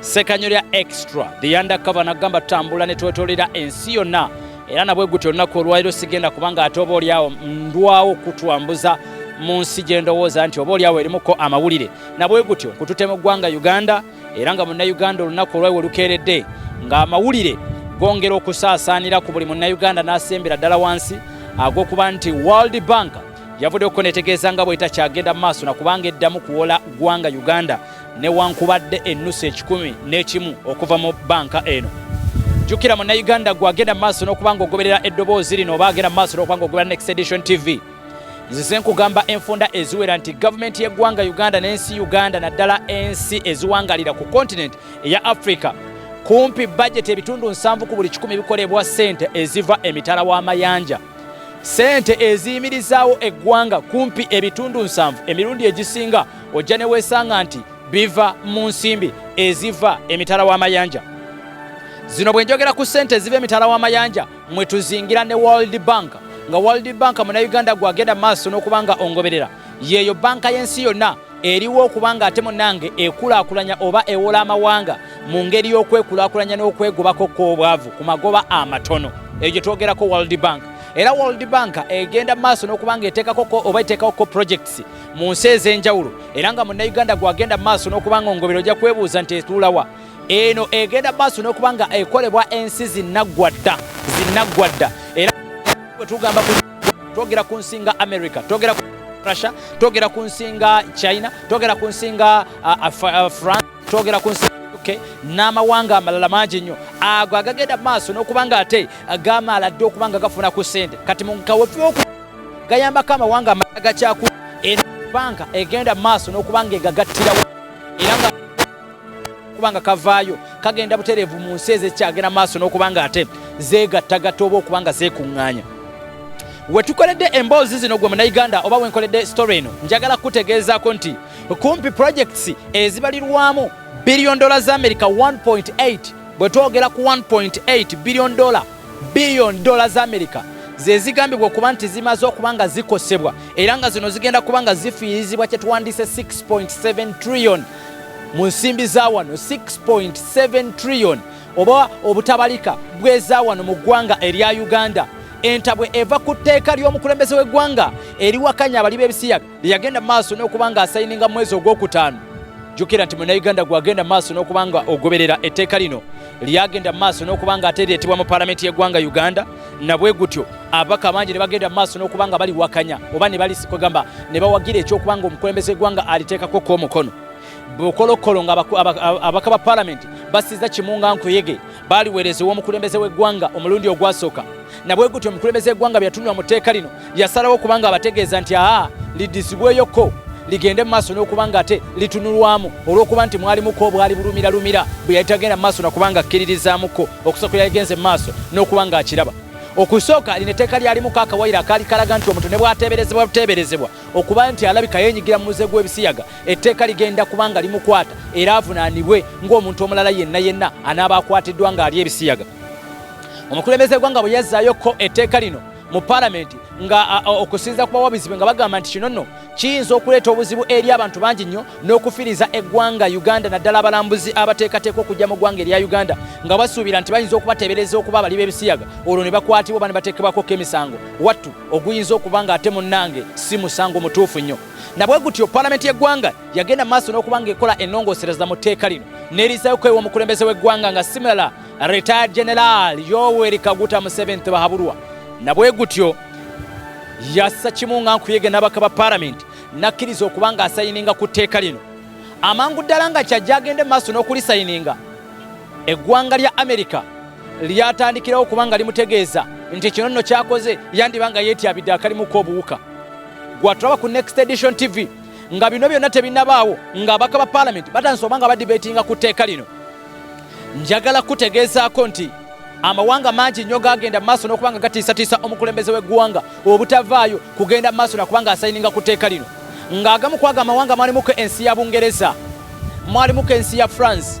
Sekanyo lya extra the undercover nagamba tambula ne twetolera ensi yonna era nabwe gutyo olunaku olwaliro sigenda kubanga ate oba olyawo ndwawo kutwambuza mu nsi gye ndowooza nti oba olyawo erimuko amawulire nabwe gutyo nkutute mu ggwanga uganda era nga munnayuganda olunaku olwaiwe lukeeredde ng'amawulire gongera okusaasaanira ku buli munnayuganda n'asembera ddala wansi ag'okuba nti world bank yavuddeko netegeeza nga bwetakyagenda mu maaso nakubanga eddamu kuwola ggwanga uganda newankubadde ennusu ekikumi n'ekimu okuva mu banka eno jjukira munnayuganda gwe agenda mu maaso n'okuba nga ogoberera eddoboozi lino oba agenda mu maaso n'okuba nga ogoberera next edition tv nzize nkugamba enfunda eziwera nti gavumenti y'eggwanga uganda n'ensi uganda naddala ensi eziwangalira ku kontinenti eya africa kumpi bajeti ebitundu nsanvu ku buli kikumi bikolebwa ssente eziva emitala w'amayanja ssente eziyimirizaawo eggwanga kumpi ebitundu nsanvu emirundi egisinga ojja ne weesanga nti biva mu nsimbi eziva emitala w'amayanja zino bwe njogera ku ssente eziva emitala w'amayanja mwe tuzingira ne world bank nga world bank munauganda gwagenda maaso n'okuba nga ongoberera yeeyo banka y'ensi yonna eriwo okuba nga ate munange ekulaakulanya oba ewola amawanga mu ngeri y'okwekulaakulanya n'okwegobako kw'obwavu ku magoba amatono eyo gye twogerako world bank era world bank egenda maaso n'okuba nga eteekakoko oba eteekakoko projects mu nsi ez'enjawulo era nga munnayuganda gwagenda mu maaso n'okuba nga ongobero ojja kwebuuza nti etuulawa eno egenda mu maaso n'okuba nga ekolebwa ensi zinaggwa dda zinaggwa dda era bwe tugamba twogera ku nsi nga america twogera ku russia twogera ku nsi nga china twogera ku nsi nga uh, uh, france twogera ku nsi okay? n'amawanga amalala mangi nnyo ago agagenda mu maaso n'okuba nga ate gamaala dde okuba nga gafuna ku ssente kati mu kawefuoku gayambako amawanga amala gakyaku era banka egenda mu maaso n'okuba nga egagattirawo era nga okuba nga kavaayo kagenda butereevu mu nsi ezekyagenda maaso n'okuba nga ate zeegattagatta oba okuba nga zeekuŋŋaanya wetukoledde emboozi zino gwe munauganda oba wenkoledde story eno njagala kukutegeezaako nti kumpi projects ezibalirwamu billion dollar za america 1.8 bwe twogera ku 1.8 billion dollar Billion dola za Amerika zezigambibwa okuba nti zimaze okuba nga zikosebwa era nga zino zigenda kuba nga zifiirizibwa kyetuwandiise 6.7 trillion mu nsimbi za wano 6.7 trillion oba obutabalika bweza wano mu ggwanga erya Uganda entabwe eva ku tteeka ly'omukulembeze w'eggwanga eriwakanya abali b'ebisiyaga yagenda maaso n'okuba nga asayininga mwezi ogwokutaano jukira nti munauganda gwagenda maaso n'okuba nga ogoberera etteeka lino lyagenda maaso n'okuba nga ate lyetibwa mu palamenti y'eggwanga uganda nabwe gutyo ababaka bangi ne bagenda maaso n'okuba nga baliwakanya oba ne balikwegamba ne bawagira ekyokuba nga omukulembeze eggwanga aliteekako kwomukono bukolokolo nga ababaka ba palamenti basiza kimunga nkuyege baaliweereza ew'omukulembeze w'eggwanga omulundi ogwasooka nabwe gutyo omukulembeze eggwanga byeyatunula mu tteeka lino yasalawo okuba nga abategeeza nti aa lidizibweyoko ligende mu maaso n'okuba nga ate litunulwamu olw'okuba nti mwalimuko obwali bulumiralumira bwe yali tagenda mu maaso nakuba nga akkiririzaamuko okusookera yagenze mu maaso n'okuba nga akiraba okusooka lino etteeka lyalimuko akawayiro akaali kalaga nti omuntu ne bwateeberezebwa buteeberezebwa okuba nti alabika yenyigira mu muze gw'ebisiyaga etteeka ligenda kuba nga limukwata era avunaanibwe ng'omuntu omulala yenna yenna anaaba akwatiddwa ng'ali ebisiyaga omukulembeze gwanga bwe yazzaayoko etteeka lino mu palamenti nga okusinza ku bawabizi be nga bagamba nti kino nno kiyinza okuleeta obuzibu eri abantu bangi nnyo n'okufiriza eggwanga uganda naddala abalambuzi abateekateeka okujja mu ggwanga erya uganda nga basuubira nti bayinza okubateebereza okuba abali b'ebisiyaga olwo ne bakwatibwa oba ne bateekebwakoko emisango wattu oguyinza okuba nga ate munnange si musango mutuufu nnyo nabwe gutyo palamenti y'eggwanga yagenda maaso n'okuba nga ekola ennongoosereza mu tteeka lino n'erizaayo kwewa omukulembeze w'eggwanga nga simulala retired general yoweri kaguta museveni tebahabulwa nabwe gutyo yassa kimu nga nkuyege n'abaka ba palamenti n'akkiriza okuba nga asayininga ku tteeka lino amangu ddala nga kyajja agende maaso n'okulisayininga eggwanga lya amerika lyatandikirawo kuba nga limutegeeza nti kino nno kyakoze yandiba nga yeetyabidde akalimuko obuwuka gwatulaba ku next edition tv nga bino byonna tebinabaawo nga abaka ba palamenti batandise oba nga badibetinga ku tteeka lino njagala kutegeezaako nti amawanga mangi nnyo gagenda mu maaso n'okuba nga gatiisatiisa omukulembeze w'eggwanga obutavaayo kugenda mu maaso nakuba nga asayininga ku tteeka lino ng'agamu kwaga amawanga mwalimuko ensi ya bungereza mwalimuko ensi ya france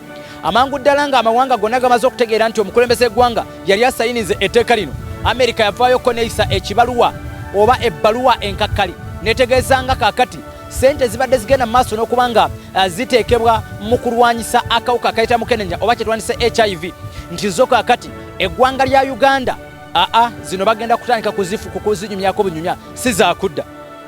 Amangu ddala ng'amawanga gonna gamaze okutegeera nti omukulembeze eggwanga yali asayinize etteeka lino, Amerika yavaayokko neeyisa ekibaluwa oba ebbaluwa enkakkali netegeeza nga kaakati sente zibadde zigenda mu maaso n'okuba nga eh, ziteekebwa mu kulwanyisa akawuka akayita mukenenya oba kyetwandise hiv nti zo kaakati eggwanga lya uganda aa zino bagenda kutandika kuzifu kukuzinyumyako bunyumya si zakudda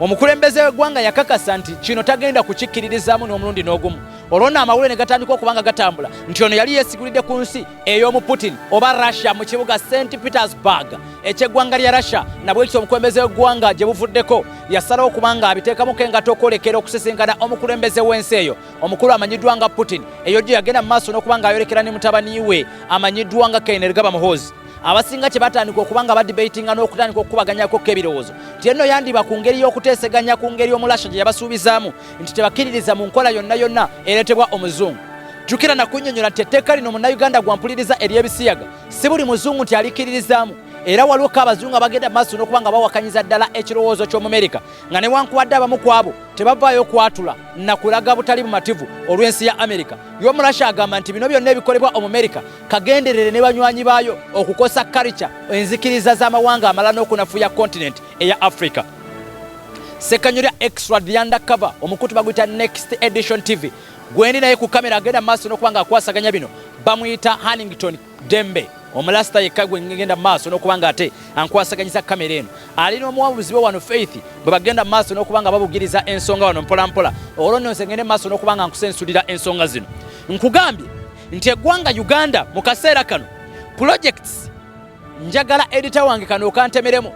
Omukulembeze w'eggwanga yakakasa nti kino tagenda kukikkiririzaamu n'omulundi n'ogumu olwo nno amawulire ne gatandika okuba nga gatambula nti ono yali yeesigulidde ku nsi ey'omu putin oba russia mu kibuga st petersburg eky'eggwanga lya russia nabwekityo omukulembeze w'eggwanga gye buvuddeko yasalawo okuba nga abiteekamu ke ngato okwolekera okusisinkana omukulembeze w'ensi eyo omukulu amanyiddwa nga putin eyo gye yagenda mu maaso n'okuba nga ayolekera ne mutabani we amanyiddwa nga kainergaba muhoozi abasinga kye batandika okuba nga badibatinga n'okutandika okukubaganyako k'ebirowoozo nti enno yandiba ku ngeri y'okuteeseganya ku ngeri omulasha gye yabasuubizaamu nti tebakkiririza mu nkola yonna yonna ereetebwa omuzungu jjukira nakunyonyola nti etteeka lino munnayuganda gwampuliriza ery'ebisiyaga si buli muzungu nti alikkiririzaamu era waliwo ko abazungu abagenda maaso n'okuba nga bawakanyiza ddala ekirowoozo ky'omumerika nga newankubadde abamu ku abo tebavaayo kwatula nakulaga butali bumativu olw'ensi ya amerika y'omulasha agamba nti bino byonna ebikolebwa omumerika kagenderere ne banywanyi baayo okukosa karica enzikiriza z'amawanga amala n'okunafuya kontinenti eya africa sekanyolya extra dianda cover omukutu baguyita next edition tv gwendi naye ku kamera agenda maaso n'okuba nga akwasaganya bino bamuyita hannington dembe omulasita yekka gwe ngenda mu maaso n'okuba nga ate ankwasaganyisa kamera eno ali n'omuwabuzi we wano faith bwe bagenda mu maaso n'okuba nga babugiriza ensonga wano mpolampola olwo nno nze ngende mu maaso n'okuba nga nkusensulira ensonga zino nkugambye nti eggwanga Uganda mu kaseera kano projects njagala edita wange kano okantemeremu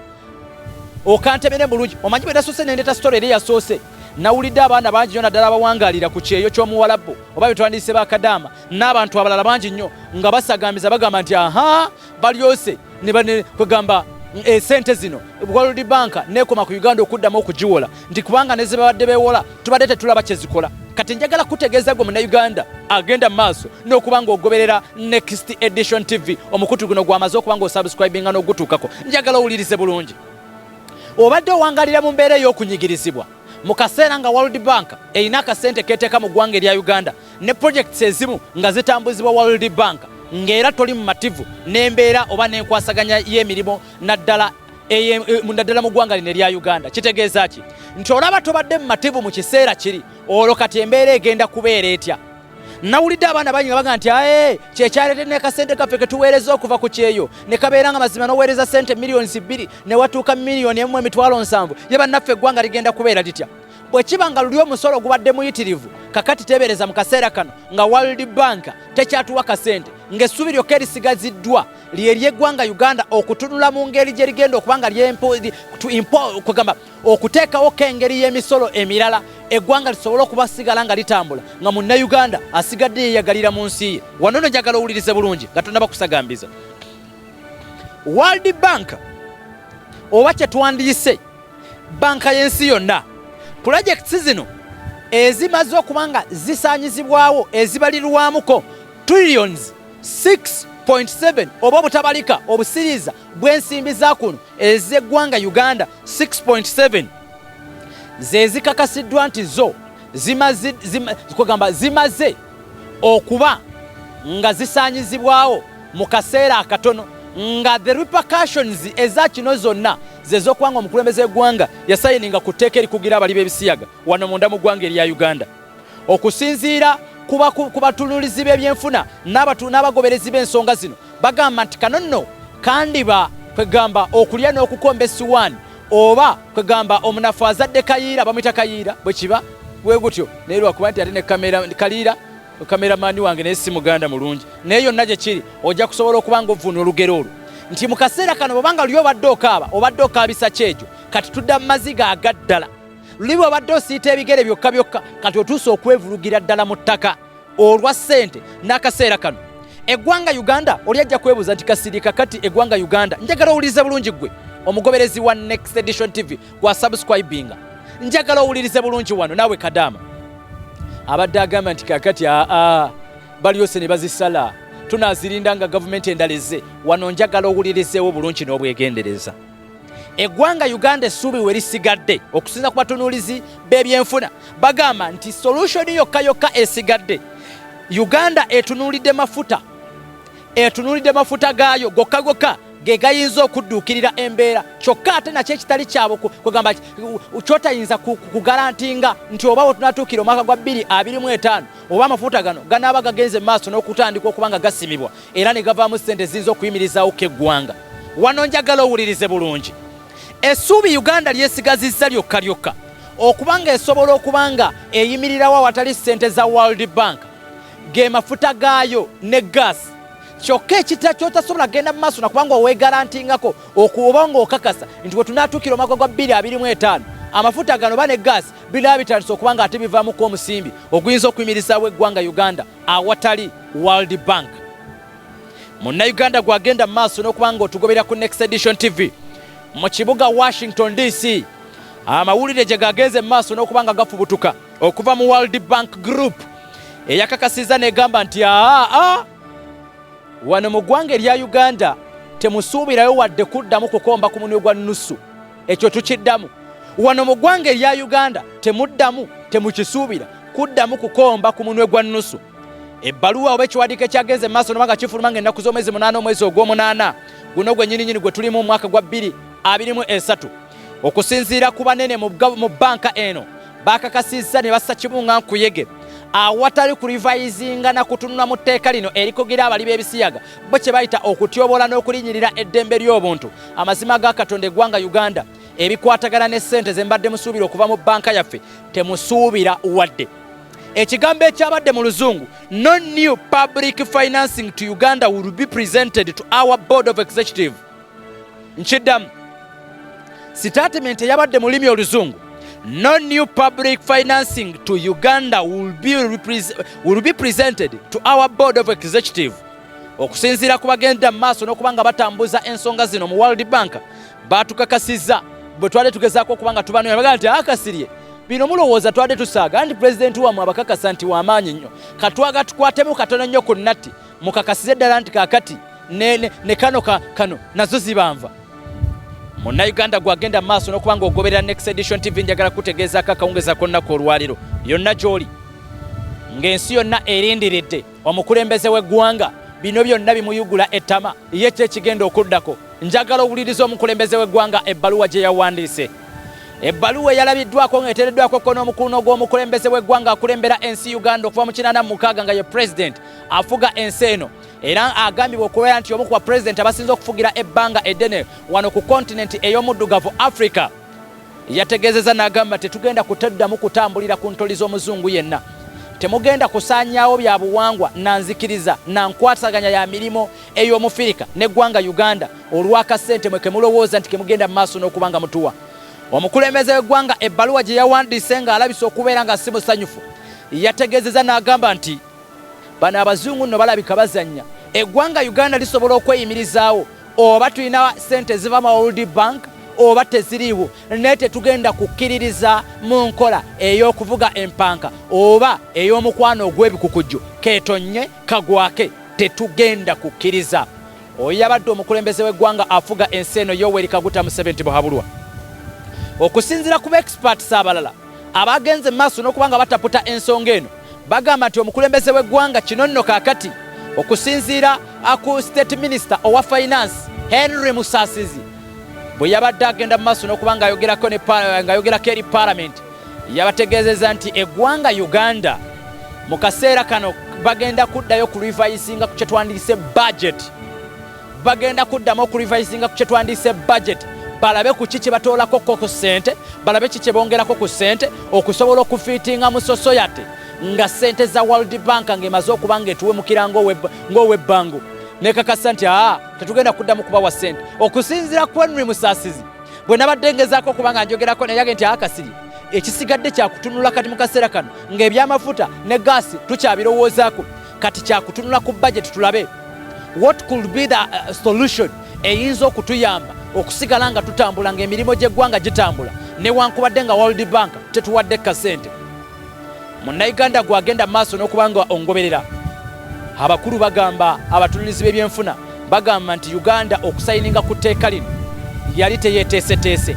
okantemere bulungi omanyi bwe nasoose nendeta story eri yasoose nawulidde abaana bangi nyo naddala abawangaalira ku kyeyo ky'omuwalabbo oba betwandiyise bakadaama n'abantu abalala bangi nnyo nga basagambiza bagamba nti aha balyose ne kwegamba esente eh, zino World Bank nekoma ku Uganda okuddamu okugiwola nti kubanga ne zebabadde bewola tubadde tetulaba kyezikola kati njagala kutegeeza gwe munauganda agenda mu maaso n'okuba ng'ogoberera next edition tv omukutu guno gwamaze okuba ng'osubscribinga n'ogutuukako njagala owulirize bulungi obadde owangalira mu mbeera ey'okunyigirizibwa mu kaseera nga world bank erina akasente keeteeka mu ggwanga erya uganda ne projects ezimu nga zitambuzibwa World Bank ng'era toli mumativu n'embeera oba n'enkwasaganya y'emirimu naddala eh, naddala mu ggwanga lino erya Uganda kitegeeza ki nti olaba tobadde mumativu mu kiseera kiri olwo kati embeera egenda kubeera etya nawulidde abaana bangi nga baga nti ae kyekyalete nekasente kaffe ketuweereza okuva ku kyeyo ne kabeera nga mazima noweereza sente miliyoni bbiri ne watuuka miliyoni emu emitwalo nsanvu ye bannaffe eggwanga ligenda kubeera litya bwe kiba nga luli omusolo gubadde muyitirivu kakati teebereza mu kaseera kano nga world bank tekyatuwa kasente ng'essuubi lyokka erisigaziddwa lyeryeggwanga uganda okutunula mu ngeri gye rigenda okuba nga lyokugamba okuteekawo ko engeri y'emisolo emirala eggwanga lisobole okuba sigala nga litambula nga munnauganda asigadde yeyagalira mu nsi ye wano no njagala owulirize bulungi nga tonaba kusagambiza world bank oba kye twandiyise Banka y'ensi yonna pulojekiti zino ezimaze okuba nga zisaanyizibwawo ezibalirwamuko trillions 6.7 oba obutabalika obusiriiza bw'ensimbi za kuno ez'eggwanga Uganda 6.7 ze zikakasiddwa nti zo zimaze okuba nga zisaanyizibwawo mu kaseera akatono nga the repercussions eza kino zonna zezokuba nga omukulembeze w'eggwanga yasayininga ku tteeka erikugira abali b'ebisiyaga wano munda mu ggwanga erya uganda okusinziira ku batunulizi b'ebyenfuna n'abagoberezi b'ensonga zino bagamba nti kanonno kandiba kwegamba okulya n'okukomba esiwaani oba kwegamba omunafu azadde kayiira bamwita kayiira bwekiba wegutyo naye lwakuba nti ate nekaliira kameramani wange naye si muganda mulungi naye yonna gyekiri ojja kusobola okuba nga ovvuuna olugero olwo nti mu kaseera kano bwobanga luli obadde okaaba obadde okaabisa kyejo kati tudda mu maziga agaddala luli bwobadde osiita ebigere byokka byokka kati otuusa okwevulugira ddala mu ttaka olwa ssente n'akaseera kano eggwanga uganda oli ajja kwebuuza nti kasirika kati eggwanga uganda njagala owulirize bulungi ggwe omugoberezi wa next edition tv gwa subscribinga njagala owulirize bulungi wano naawe kadaama abadde agamba nti kakati aa balyose ne bazisala tunazirinda nga gavumenti endala ezze wano njagala owulirizeewo bulungi n'obwegendereza eggwanga uganda essuubi we lisigadde okusinza ku batunuulizi b'ebyenfuna bagamba nti solushoni yokka yokka esigadde uganda etunuulidde mafuta etunuulidde mafuta gaayo gokka gokka ge gayinza okudduukirira embeera kyokka ate nakyo ekitali kyabwe kwegamba kyotayinza kugalantinga nti oba wetunatuukira omwaka gwa 225 oba amafuta gano ganaaba gagenze mu maaso n'okutandika okuba nga gasimibwa era ne gavaamu ssente eziyinza okuyimirizaawo ko eggwanga. Wano njagala owulirize bulungi. Essuubi Uganda lyesigazizza lyokka lyokka okuba ng'esobola okuba nga eyimirirawo awatali ssente za World Bank ge mafuta gaayo ne gaasi kyokka ekita kyotasobola kugenda mu maaso nakubanga owegalantingako okuba ng'okakasa nti we tunaatuukira omwaka gwa 225 amafuta gano ba ne gaasi biraba bitandise okuba nga ate bivamuko omusimbi oguyinza okuyimirizaawo eggwanga Uganda awatali World Bank. Munnayuganda gw'agenda mu maaso n'okuba nga otugoberera ku Next Edition TV mu kibuga Washington DC, amawulire gye gagenze mu maaso n'okuba nga gafubutuka okuva mu World Bank Group eyakakasizza n'egamba nti aa wano mu ggwanga erya Uganda temusuubirayo wadde kuddamu kukomba ku munwe gwa nnusu. ekyo tukiddamu wano mu ggwanga erya uganda temuddamu temukisuubira kuddamu kukomba ku munwe gwa nnusu ebbaluwa oba ekiwandiiko ekyagenze mu maaso nobanga kifuluma nga ennaku z'omwezi munaana omwezi ogw'omunaana guno gwe nyininyini gwe tulimu omwaka gwa bbiri abiri mu esatu okusinziira ku banene mu bbanka eno bakakasizza ne bassa kibunga nkuyege awatali kulivayizinga na kutunula mu tteeka lino erikugira abali b'ebisiyaga bo kye bayita okutyobola n'okulinyirira eddembe ly'obuntu amazima ga katonda eggwanga uganda ebikwatagana ne ssente ze mbadde musuubira okuva mu bbanka yaffe temusuubira wadde ekigambo ekyabadde mu luzungu no new public financing to uganda will be presented to our board of executive nkiddamu sitatimenti eyabadde mu lulimi oluzungu no new public financing to uganda will be, will be presented to our board of executive okusinziira ku bagenda mu maaso n'okuba nga batambuza ensonga zino mu world bank batukakasizza bwe twali tugezaako okuba nga tubanoonya bagaa nti akasirye ah, bino mulowooza twade tusaaga nti pulezidenti wamwe abakakasa nti wamaanyi nnyo katwaga tukwatemu katono nnyo ku natti mukakasize ddala nti kakati ne, ne, ne kano ka, kano nazo zibanva munnayuganda gwagenda mu maaso n'okuba nga ogoberera next edition tv njagala kutegeezaako akawungeza konnaku olwaliro yonna gy'oli ng'ensi yonna erindiridde omukulembeze w'eggwanga bino byonna bimuyugula ettama ye kyo ekigenda okuddako njagala owuliriza omukulembeze w'eggwanga ebbaluwa gye yawandiise ebbaluwa eyalabiddwako ng'eteereddwako kko n'omukuluno gw'omukulembeze w'eggwanga akulembera ensi uganda okuva mu kinana mu mukaaga nga ye pulezidenti afuga ensi eno era agambibwa okubeera nti omu ku bapulezidenti abasinze okufugira ebbanga eddene wano ku kontinenti ey'omuddugavu africa yategeezeza n'agamba tetugenda kutaddamu kutambulira ku ntoli z'omuzungu yenna temugenda kusaanyaawo bya buwangwa na nzikiriza na nkwasaganya ya mirimu ey'omufirika n'eggwanga uganda olw'akasente mwe ke mulowooza nti ke mugenda mu maaso n'okuba nga mutuwa omukulembeze w'eggwanga ebbaluwa gye yawandiise ng'alabisa okubeera nga si musanyufu yategeezeza n'agamba nti bano abazungu nno balabika bazannya eggwanga uganda lisobola okweyimirizaawo oba tulina sente eziva mu world bank oba teziriiwo naye tetugenda kukkiririza mu nkola ey'okuvuga empanka oba ey'omukwano ogw'ebikukujju ketonye kagwake tetugenda kukkiriza oyo yabadde omukulembeze w'eggwanga afuga ensi eno yoweri kaguta museveni tibuhabulwa okusinzira ku baexperts abalala Abaagenze mu maaso n'okuba nga bataputa ensonga eno bagamba nti omukulembeze w'eggwanga kino nno kaakati okusinziira ku state minister owa finance Henry Musasizi bwe yabadde agenda mu maaso n'okuba ng'ayogerako eri palamenti yabategeezeza nti eggwanga Uganda mu kaseera kano bagenda kuddayo ku rivayisinga ku kye twandiyise bajeti bagenda kuddamu okurevisinga ku kyetwandiise budget balabe ku ki kyebatoolako ko ku ssente balabe ki kyebongerako ku ssente okusobola okufiitinga mu sosoyate nga ssente za world bank ng'emaze okuba ngaetuwemukira ng'owebbango nekakasa nti aa tetugenda kuddamu kubawa ssente okusinzira ku henry musaasizi bwe nabadde ngezaako okuba nga njogerako neyage nti akasiri ekisigadde kyakutunula kati mu kaseera kano ng'ebyamafuta ne gaasi tukyabirowoozaako kati kyakutunula ku bajeti tulabe what could be the uh, solution eyinza okutuyamba okusigala nga tutambula ngaemirimu gy'eggwanga gitambula newankubadde nga world bank tetuwadde kasente munnayuganda gwe agenda maaso n'okuba nga ongoberera abakulu bagamba abatunulizi b'ebyenfuna bagamba nti uganda okusayininga ku tteeka lino yali teyeteeseteese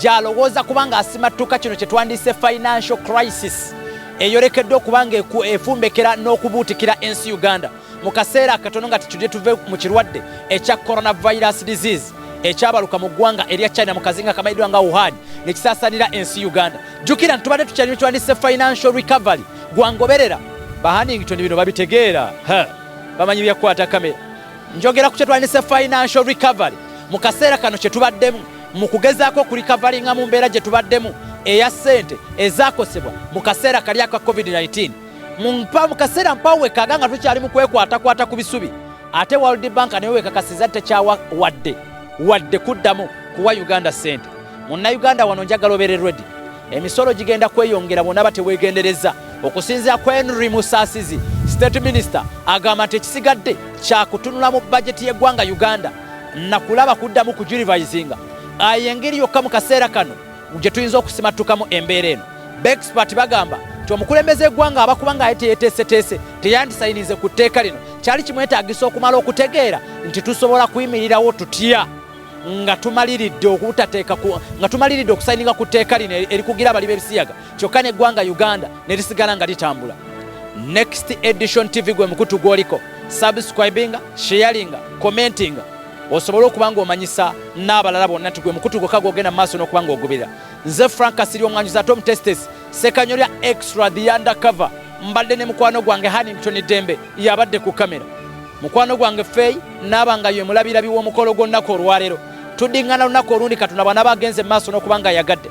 gy'alowooza kubanga asimattuka kino kye twandiyise financial crisis eyolekedde okuba nga efumbekera n'okubuutikira ensi uganda mu kaseera akatono nga tetudde tuve mu kirwadde ekya coronavirus disease ekyabaluka mu ggwanga erya china mu kazinga kamanyiddwa nga wuhan ne kisaasanira ensi uganda jjukira nti tubadde tukyali nekiwandise financial recovery gwangoberera bahanington bino babitegeera bamanyi byakukwata kamera njogera ku kyetwandise financial recovery mu kaseera kano kye tubaddemu mu kugezaako okulikavalinga mu mbeera gye tubaddemu eya ssente ezaakosebwa mu kaseera kali aka covid-19 mumpa mu kaseera mpawo wekaaga nga tukyali mu kwekwatakwata ku bisubi ate world bank naye wekakasiza tekyawa wadde wadde kuddamu kuwa uganda ssente munnayuganda wano njagala obeere redi emisolo gigenda kweyongera bwonaba tewegendereza okusinzira ku henry musasizi state minister agamba nti ekisigadde kyakutunula mu bajeti y'eggwanga uganda nakulaba kuddamu kujurivisinga ayo engeri yokka mu kaseera kano gye tuyinza okusimattukamu embeera eno bexpert bagamba nti omukulembeze eggwanga aba kubanga aye teyeteeseteese teyandisayinize ku tteeka lino kyali kimwetaagisa okumala okutegeera nti tusobola kuyimirirawo tutya nga tumaliridde okutateeka nga tumaliridde okusayininga ku tteeka lino erikugira abali b'ebisiyaga kyokka n'eggwanga uganda ne lisigala nga litambula next edition tv gwe mukutu gwoliko subscribinga sharinga commentinga osobole okuba nga omanyisa n'abalala bonna nti gwe mukutu gwokka gwogenda mu maaso n'okuba nga ogubira nze frank asiri omwanjuzi ate omutestes sekanyo lya extra the undercover mbadde ne mukwano gwange hanington dembe yabadde ku kamera mukwano gwange feeyi naaba nga yemulabirabi w'omukolo gw'olunaku olwaleero tudingana lunaku olundi katonda bwana bagenze mu maaso n'okuba nga ayagadde